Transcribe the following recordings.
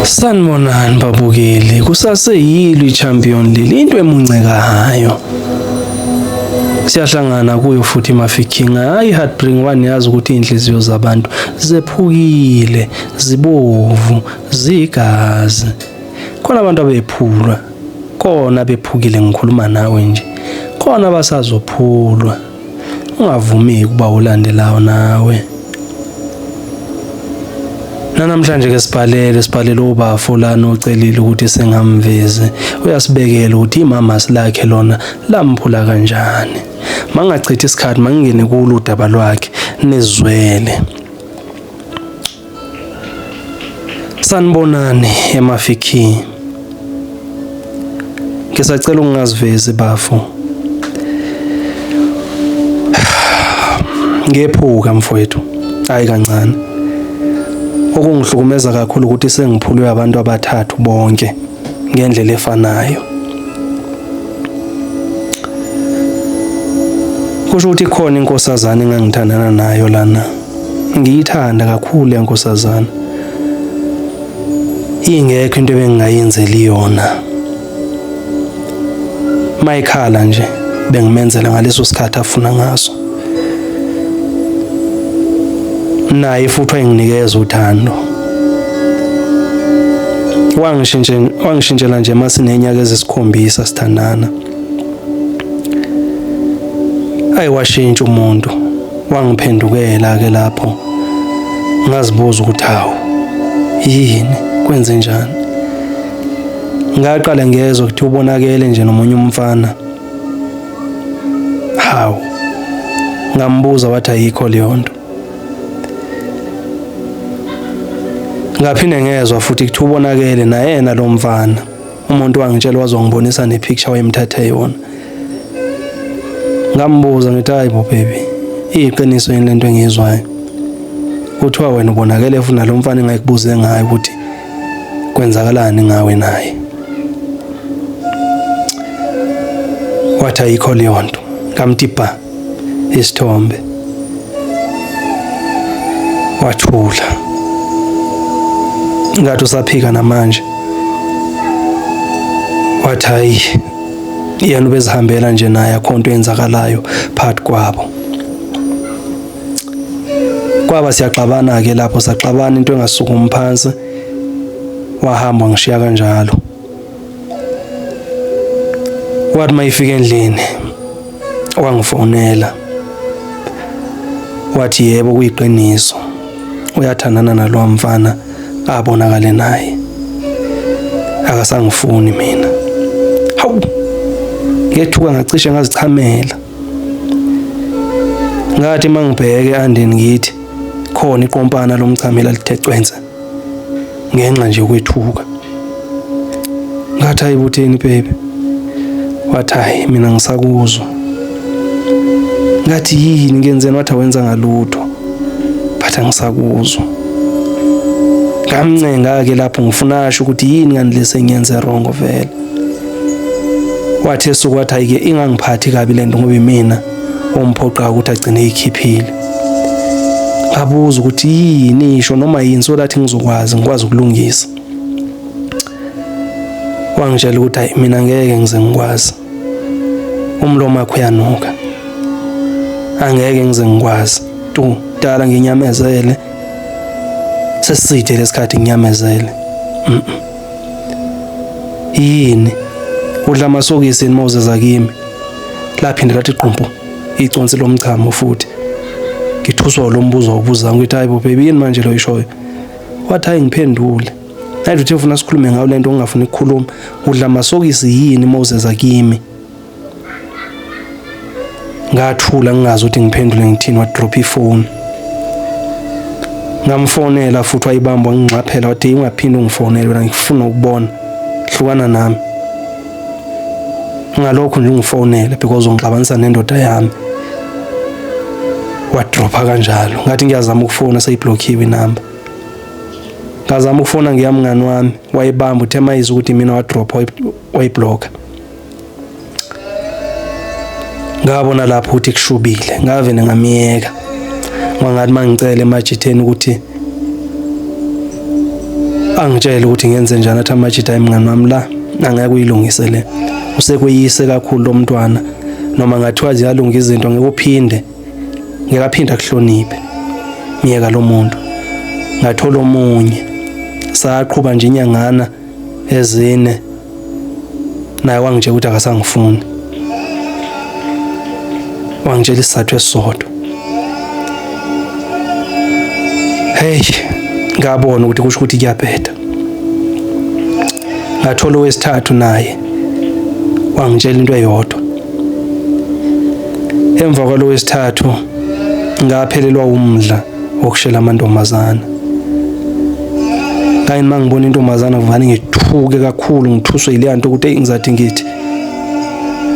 Sanibonani babukeli, kusaseyilo i-champion leli into emuncekayo siyahlangana kuyo futhi mafikinga hayi heartbring one yazi ukuthi inhliziyo zabantu zephukile zibovu zigazi khona abantu abephulwa kona bephukile ngikhuluma nawe nje khona basazophulwa ungavumeki ukuba ulandelayo nawe nanamhlanje ke sibhalele sibhalele ubafo lana ocelile ukuthi singamvezi uyasibekela ukuthi imama silakhe lona lamphula kanjani mangachithi isikhathi mangingene kulo udaba lwakhe nizwele Sanibonani emafikini. Ngisacela ungazivezi bafo. Ngephuka mfowethu. Hayi kancane. Okungihlukumeza kakhulu ukuthi sengiphulwe abantu abathathu bonke ngendlela efanayo. Kusho ukuthi khona inkosazana engangithandana nayo lana. Ngiyithanda kakhulu le nkosazana. Ingekho into ebengingayenzeli yona. Mayikhala nje bengimenzela ngaleso sikhathi afuna ngaso. Naye futhi wayenginikeza uthando. Wangishintshela wangishintshela nje masinenyaka ezisikhombisa sithandana. ayi washintsha umuntu wangiphendukela ke lapho ngazibuza ukuthi hawu yini kwenze njani ngaqale ngezwe ukuthi ubonakele nje nomunye umfana hawu ngambuza wathi ayikho leyo nto ngaphinde ngezwa futhi ukuthi ubonakele nayena lo mfana umuntu wangitshela wazongibonisa nepicture wayemthathe yona ngambuza ngithi hayi bo baby iyiqiniso yini lento engiyizwayo kuthiwa wena ubonakele futhi nalo mfana engayikubuze ngayo ukuthi kwenzakalani ngawe naye wathi ayikho leyo nto ngamthi bha isithombe wathula ngathi usaphika namanje wathi hayi yena ubezihambela nje naye akho nto eyenzakalayo phakathi kwabo kwaba siyaxabana-ke lapho saxabana into engasukumi phansi wahamba ngishiya kanjalo wathi mayifika endlini wangifonela wathi yebo kuyiqiniso uyathandana nalowa mfana abonakale naye akasangifuni mina hawu ngethuka ngacishe ngazichamela ngathi mangibheke andeni ngithi khona iqompana lomchamela lithe cwense ngenxa nje yokwethuka ngathi hayi butheni bebe wathi hayi mina ngisakuzwa ngathi yini ngenzeni wathi awenza ngalutho but angisakuzwa ngamncenga-ke lapho ngifuna asho ukuthi yini kanti lesengiyenze wrong vele wathi esuku wathi ayike ingangiphathi kabi lento ngoba imina omphoqa ukuthi agcine ikhiphile abuza ukuthi yini isho noma yini so that ngizokwazi ngikwazi ukulungisa wangitshela ukuthi hayi mina ngeke ngize ngikwazi umlomo wakho uyanuka angeke ngize ngikwazi tu dala nginyamezele seside lesikhathi nginyamezele mm -mm. yini udla amasokisi yini mawuze zakimi laphinde lathi qumpu iconsi lomchamo futhi ngithuswa lo mbuzo ubuza ngithi hayibo baby yini manje lo ishoyo wathi hayi ngiphendule nathi uthe ufuna sikhulume ngayo lento ongafuni ukukhuluma udla amasokisi yini mawuze zakimi ngathula ngingazi ukuthi ngiphendule ngithini wadrop ifone ngamfonela futhi wayibamba ngingxaphela wathi ungaphinde ungifonele wena ngifuna ukubona hlukana nami ngalokho nje ungifonele because ungixabanisa nendoda yami wadropha kanjalo ngathi ngiyazama ukufona seyiblockiwe inamba ngazama ukufona ngiyamngani wami wayibamba uthe mayizi ukuthi mina wadropha wayiblocka ngabona lapho ukuthi kushubile ngave ngamyeka ngangathi mangicela emajitheni ukuthi angitshele ukuthi ngenze njani athi amajitha ayimngani wami la angeke uyilungise le usekweyise kakhulu lo mntwana noma ngathiwa ziyalunga izinto ngeke uphinde ngeke aphinde akuhloniphe myeka lo muntu ngathola omunye saqhuba nje inyangana ezine naye wangitshela ukuthi akasangifuni wangitshela isizathu esisodwa hey ngabona ukuthi kusho ukuthi kuyabheda ngathola owesithathu naye wangitshela into eyodwa emva kwalo wesithathu ngaphelelwa umdla wokushela amantombazana kanye uma ngibona intombazana kuvane ngithuke kakhulu ngithuswe yileya nto ukuthi eyi ngizathi ngithi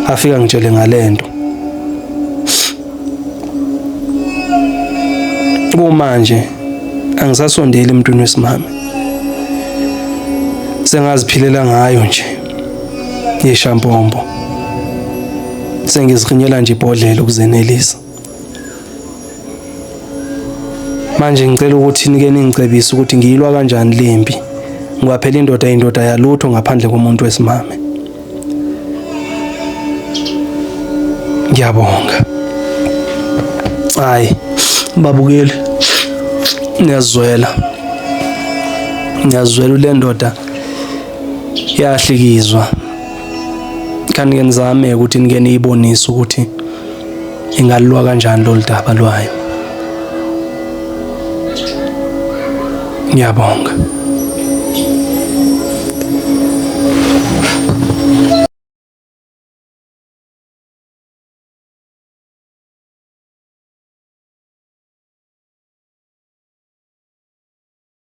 afika ngitshele ngale nto kumanje angisasondeli emntwini wesimame sengaziphilela ngayo nje yeshampombo sengizikhinyela nje ibhodlela ukuzenelisa manje ngicela ukuthi nike ningicebise ukuthi ngiyilwa kanjani lempi ngoba phela indoda indoda yalutho ngaphandle komuntu wesimame ngiyabonga hayi babukeli ngiyazwela ngiyazwela le ndoda yahlikizwa kanti ngenzame ukuthi nike niyibonise ukuthi ingalulwa kanjani lolu daba lwayo ngiyabonga